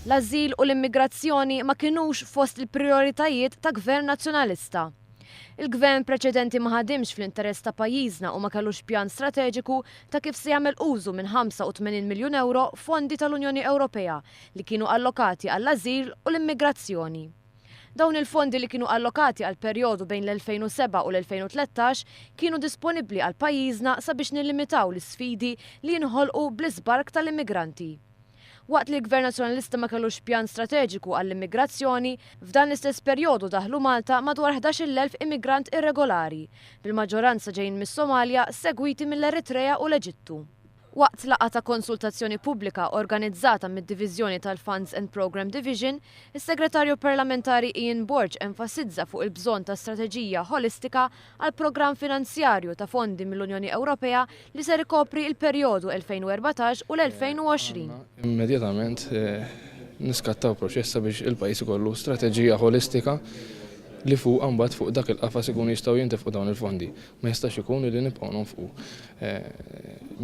L-ażil u l-immigrazzjoni ma kinux fost il-prijoritajiet ta' Gvern Nazzjonalista. Il-Gvern preċedenti ma ħadimx fl-interess ta' pajjiżna u ma kellux pjan strateġiku ta' kif se jagħmel użu minn 85 miljun ewro fondi tal-Unjoni Ewropea li kienu allokati għall-ażil u l-immigrazzjoni. Dawn il-fondi li kienu allokati għall-perjodu bejn l-2007 u l-2013 kienu disponibbli għal pajjiżna sabiex nillimitaw l-isfidi li jinħolqu bl-iżbark tal-immigranti. Waqt li l-Gvern Nazzjonalista ma kellux pjan strateġiku għall-immigrazzjoni, f'dan l-istess perjodu daħlu Malta madwar 11,000 immigrant irregolari, bil-maġġoranza ġejjin mis-Somalja segwiti mill-Eritrea u l-Eġittu. Waqt laqgħa ta' konsultazzjoni pubblika organizzata mid-Diviżjoni tal-Funds and Programme Division, is-Segretarju Parlamentari Ian Borg enfasizza fuq il-bżonn ta' strateġija ħolistika għall-programm finanzjarju ta' fondi mill-Unjoni Ewropea li ser ikopri l-perjodu 2014 u l-2020. Immedjatament niskattaw proċess sabiex il-pajjiż ikollu strateġija ħolistika li fuqha mbagħad fuq dak il-qafas ikunu jistgħu jintefqu dawn il-fondi. Ma jistax ikun li nibqgħu nonfqu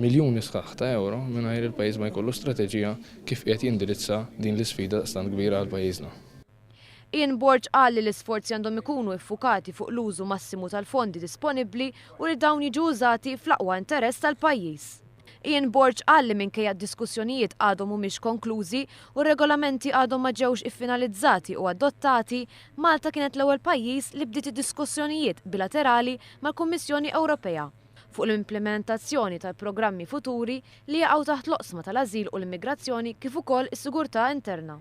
miljuni sħaħ ta' ewro mingħajr il-pajjiż ma jkollu strateġija kif qiegħed jindirizza din l-isfida daqstant kbira għal pajjiżna. Ian Borg qal li l-isforzi għandhom ikunu iffukati fuq l-użu massimu tal-fondi disponibbli u li dawn jiġu użati fl-aqwa interess tal-pajjiż. Ian Borg qal li minkejja d-diskussjonijiet għadhom mhumiex konklużi u r-regolamenti għadhom ma ġewx iffinalizzati u adottati, Malta kienet l-ewwel pajjiż li bdiet id-diskussjonijiet bilaterali mal-Kummissjoni Ewropea fuq l-implimentazzjoni tal-programmi futuri li jaqgħu taħt l-oqsma tal-ażil u l-immigrazzjoni kif ukoll is-sigurtà interna.